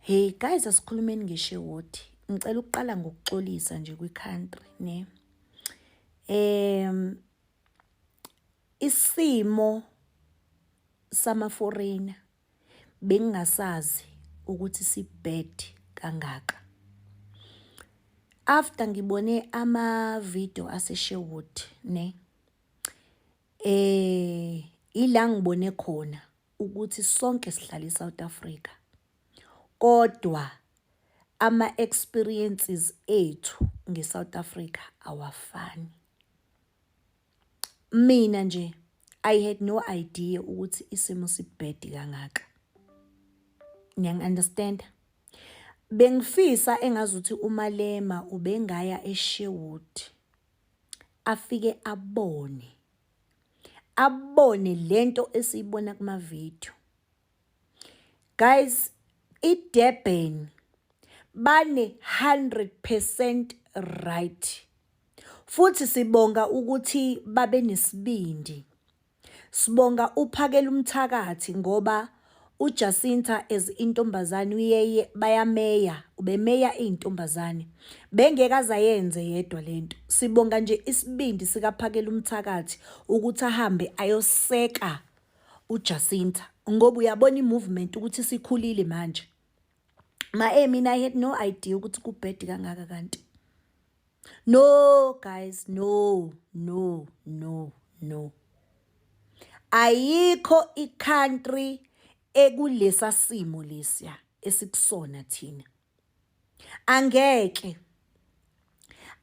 Hey guys asikhulumeni ngeshewoti. Ngicela ukuqala ngokuxolisa nje kwi-country ne. Em isimo sama foreigner bengingasazi ukuthi sibad kangaka. After ngibone ama video ase Sherwood ne. Eh ila ngibone khona ukuthi sonke sihlala eSouth Africa kodwa ama experiences ethu ngeSouth Africa awafani mina nje i had no idea ukuthi isimo sibhedi kangaka niyang understand bengifisa engazuthi umalema ubengaya esherwood afike abone abone lento esiyibona kuma video guys iDurban bane 100% right futhi sibonga ukuthi babe nesibindi sibonga uphakela umthakathi ngoba UJacinta as intombazane uyeye bayameya ubemeya izintombazane bengeke azayenze yedwa lento sibonga nje isibindi sikaphakela umthakathi ukuthi ahambe ayoseka uJacinta ngoba uyabona imovement ukuthi sikhulile manje Ma eh mina I had no idea ukuthi kubhedi kangaka kanti. No guys, no, no, no, no. Ayikho icountry ekulesa simo lesiya esikusona thina. Angeke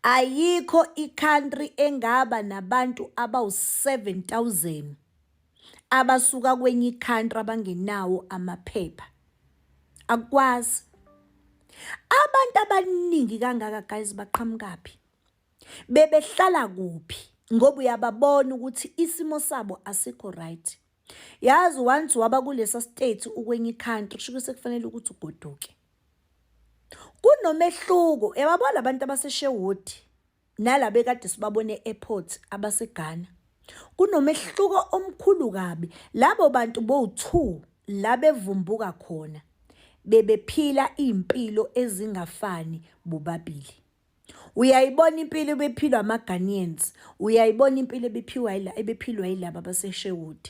Ayikho i-country engaba nabantu abawu-7000 abasuka kwenye i-country abangenawo amaphepha. Akukwazi. Abantu abaningi kangaka guys baqhamukaphi? Bebehlala kuphi? Ngoba uyababona ukuthi isimo sabo asikho right. Yazi once waba kulesa state ukwenye i-country kusho ukuthi sekufanele ukuthi ugoduke. Kunomehluko yababo labantu abaseSherwood nalaba ekade sibabone e-airport abaseGhana. Kunomehluko omkhulu kabi. Labo bantu bowu-two la bevumbuka khona bebephila iy'mpilo ezingafani bobabili. Uyayibona impilo ebephilwa ama-Ghanaians, uyayibona impilo ebephiwa ebephilwa yilaba baseSherwood.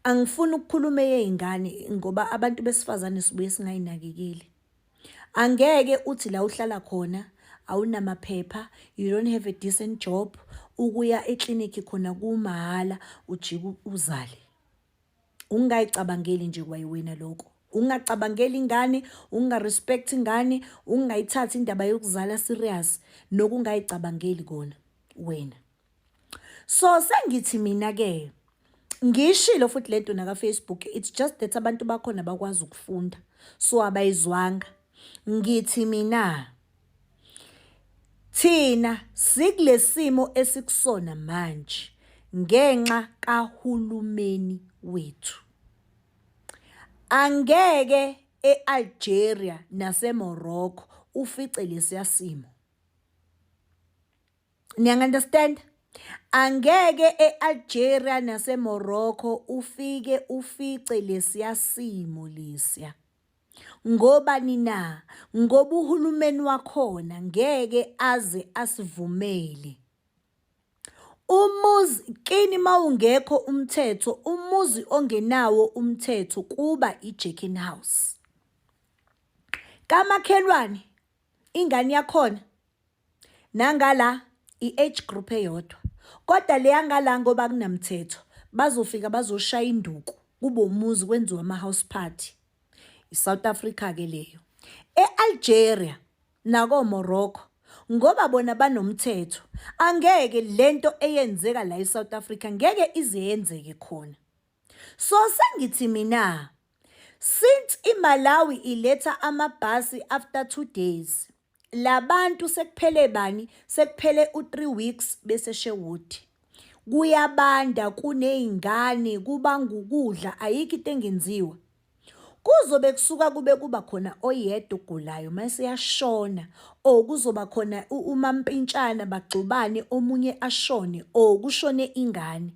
Angifuni ukukhuluma eyey'ngane ngoba abantu besifazane sibuye singay'nakekeli. Angeke uthi la uhlala khona awunamaphepha, you don't have a decent job, ukuya eklinikhi khona kumahhala ujike uzale. Ungay'cabangeli nje kwayiwena loko. Ungacabangeli ingane, unga-respect ingane, ungayithathi indaba yokuzala serious, nokungay'cabangeli kona wena. So sengithi mina ke ngishilo futhi lento naka Facebook it's just that abantu bakhona bakwazi ukufunda so abayizwanga ngithi mina thina sikulesimo esikusona manje ngenxa kahulumeni wethu angeke eAlgeria naseMorocco ufice lesiyasimo niyangu-understand angeke e-algeria nasemorocco ufike ufice lesiya simo lesiya ngobani na ngoba uhulumeni wakhona ngeke aze asivumele Umuzi kini mawungekho umthetho umuzi ongenawo umthetho kuba i-Jerkin House. Kamakhelwane ingane yakhona Nangala i-age group eyodwa kodwa leyangala ngoba kunamthetho bazofika bazoshaya induku kube umuzi kwenziwa ama-house party i-south africa ke leyo e-algeria nakomorocco ngoba bona banomthetho angeke lento eyenzeka la e-south africa ngeke ize yenzeke khona so sengithi mina since imalawi iletha amabhasi after two days Labantu sekuphele bani sekuphele u3 weeks bese Sherwood. Kuyabanda kunezingane kubangukudla ayikho into engenziwa. Kuzobe kusuka kube kuba khona oyedwa ogulayo mase yashona or kuzoba khona umampintshana bagxubane omunye ashone or kushone ingane.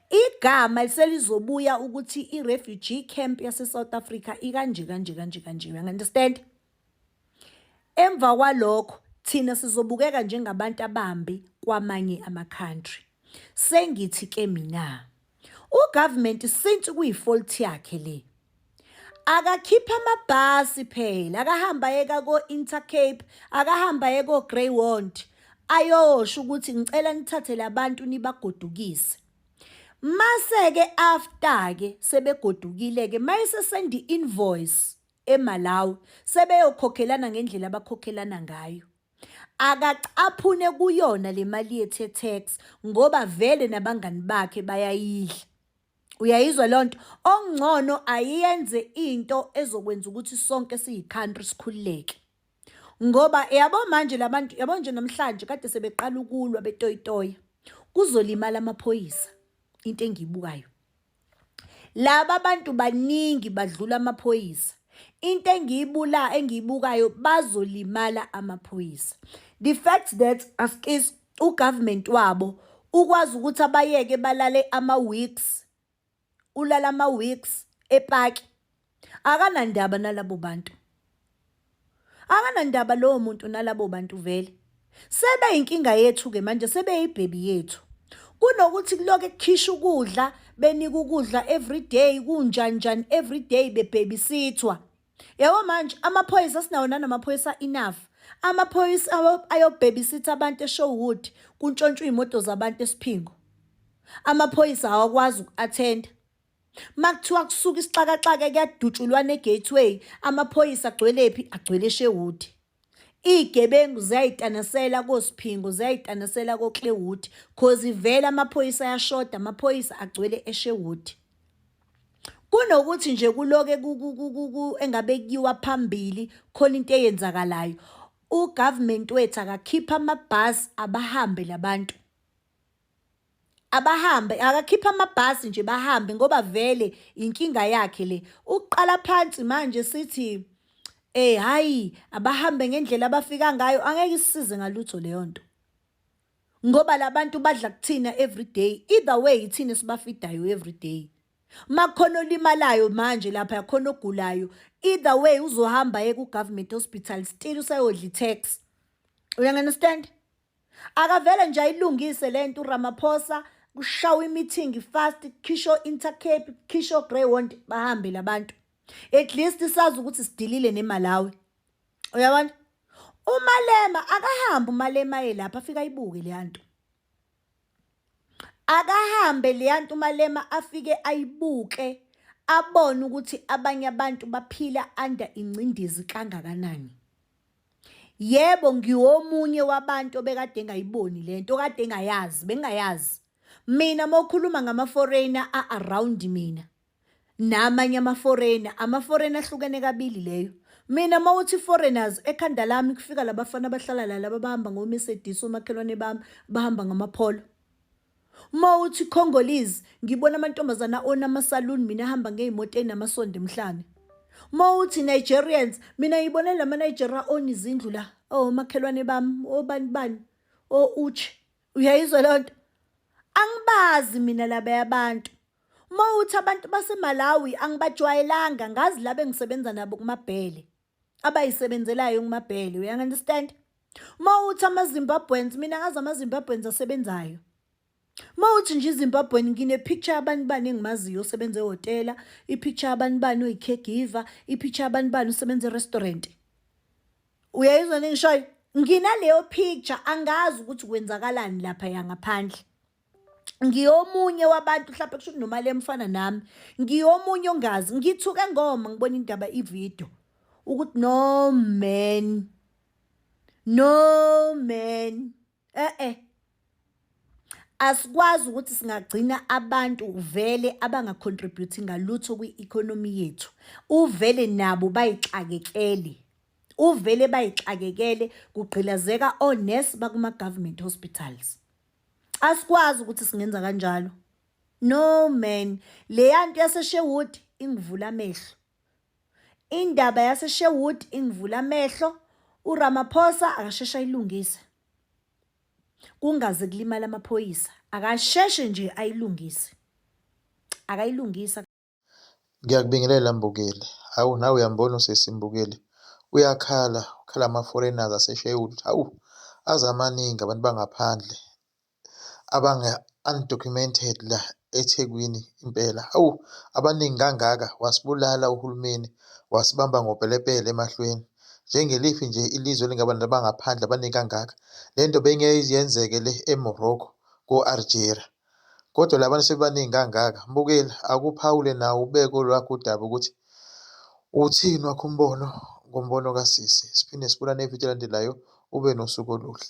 Igama selizobuya ukuthi i-refugee camp yase-South Africa ikanje kanje kanje kanje. You understand? Emva kwalokho thina sizobukeka njengabantu abambi kwamanye ama country. Sengithi ke mina u government since kuyi fault yakhe le akakhiphe amabhasi phela akahamba yeka ko Intercape akahamba yeka o Greywond ayosho ukuthi ngicela nithathe labantu nibagodukise mase ke after ke sebegodukile ke mayese send invoice eMalawi sebeyokhokhelana ngendlela abakhokhelana ngayo. Akacaphune kuyona le mali yethu ye-tax ngoba vele nabangani bakhe bayayidla. Uyayizwa leyo nto? Okungcono ayenze into ezokwenza ukuthi sonke siyi-country sikhululeke. Ngoba yabo manje la bantu, yabo nje namhlanje kade sebeqala ukulwa betoyitoya, kuzolimala amaphoyisa into engiyibukayo. laba abantu baningi badlula amaphoyisa into engiyibula engiyibukayo bazolimala amaphoyisa the fact that askis ugovernment wabo ukwazi ukuthi abayeke balale ama-weeks ulala ama-weeks epaki akanandaba nalabo bantu akanandaba lowo muntu nalabo bantu vele sebeyinkinga yethu-ke manje sebeyibhebi yethu kunokuthi kuloke kukhishwa ukudla benika ukudla everyday kunjanjani everyday bebhebisithwa yabo manje amaphoyisa sinawo nanamaphoyisa enough amaphoyisa ayobhebisitha abantu eshowood kuntshontshwa iy'moto zabantu esiphingo amaphoyisa awakwazi uku-athenda Makuthiwa kusuka isixakaxaka kuyadutshulwana e-gateway, amaphoyisa agcwelephi? Agcwele eSherwood. Iy'gebengu ziyayitanisela koSiphingo, ziyayitanisela koKlewood cause vele amaphoyisa ayashoda, amaphoyisa agcwele eSherwood. Kunokuthi nje kuloke engabe kuyiwa phambili khona into eyenzakalayo. U-government wethu akakhiphe amabhasi abahambe la bantu. abahambe akakhiphe amabhasi nje bahambe ngoba vele inkinga yakhe le uqala phansi manje sithi eh hayi abahambe ngendlela abafika ngayo angeke isize ngalutho leyo nto ngoba labantu badla kuthina every day either way ithina sibafidayo every day makhona olimalayo manje lapha yakhona ogulayo either way uzohamba ye ku government hospital still usayodla i tax uyangi understand Akavele nje ayilungise lento uRamaphosa kushawa imithingi fast khisho Intercape khisho Greyhound bahambe labantu at least sazi ukuthi sidilile neMalawi uyabona umalema akahambe umalema yelapha afika ayibuke leyanto akahambe leyanto umalema afike ayibuke abone ukuthi abanye abantu baphila under ingcindezi kangakanani Yebo ngiwomunye wabantu obekade engayiboni le nto okade engayazi bengingayazi mina uma ukhuluma ngama-foreigner a-around mina namanye ama-foreigner ama-foreigner ahlukene kabili leyo mina uma uthi foreigners ekhanda lami kufika labafana abahlala la laba bahamba ngomesedisi omakhelwane bami bahamba ngamapholo Uma uthi Congolese ngibona amantombazana ona ama-saloon mina ahamba ngey'moto ey'namasondo emhlane. Uma uthi Nigerians mina ngibone la ma-Nigeria ona izindlu la omakhelwane oh, bami obani oh, bani o oh, uchi uyayizwa leyo nto angibazi mina laba yabantu uma uthi abantu basemalawi angibajwayelanga ngazi laba engisebenza nabo kumabhele abayisebenzelayo ngumabhele uyangunderstand uma uthi ama-zimbabweans mina ngazi ama-zimbabweans asebenzayo uma uthi nje izimbabwean ngine-picture abantu bani engimaziyo osebenza ehhotela i-picture abantu bani oyi-caregiver i-picture abantu bani usebenza erestaurant uyayizwa nengishoyo nginaleyo picture angazi ukuthi kwenzakalani lapha yangaphandle ngiyomunye wabantu mhlawumbe kusho ukuthi nomali emfana nami ngiyomunye ongazi ngithuke ngoma ngibona indaba ividiyo ukuthi no man no man eh eh asikwazi ukuthi singagcina abantu vele abangacontribute ngalutho kwi-economy yethu uvele nabo bayixakekele uvele bayixakekele kugqilazeka onesi bakuma-government hospitals asikwazi ukuthi singenza kanjalo no man leya nto yasesherwood ingivula amehlo indaba yasesherwood ingivula amehlo uramaphosa akasheshe ayilungise kungaze kulimala amaphoyisa akasheshe nje ayilungise akayilungisa Ngiyakubingelela Mbukeli. Hawu nawe uyambona usisi Mbukeli uyakhala, ukhala ngama-foreigners aseSheffield. Hawu aze amaningi abantu bangaphandle abanga-undocumented la eThekwini impela. Hawu abaningi kangaka wasibulala uhulumeni, wasibamba ngopelepele emahlweni. Njengeliphi nje ilizwe elingaba nabantu abangaphandle abaningi kangaka. Le nto beyingeke yenzeke le eMorocco ko-Algeria. Kodwa labantu sebebaningi kangaka. Mbukeli, akuphawule nawe ubeke olwakho udaba ukuthi uthini wakho umbono ngombono kasisi. Siphinde sibonane evidiyo elandelayo. Ube nosuku oluhle.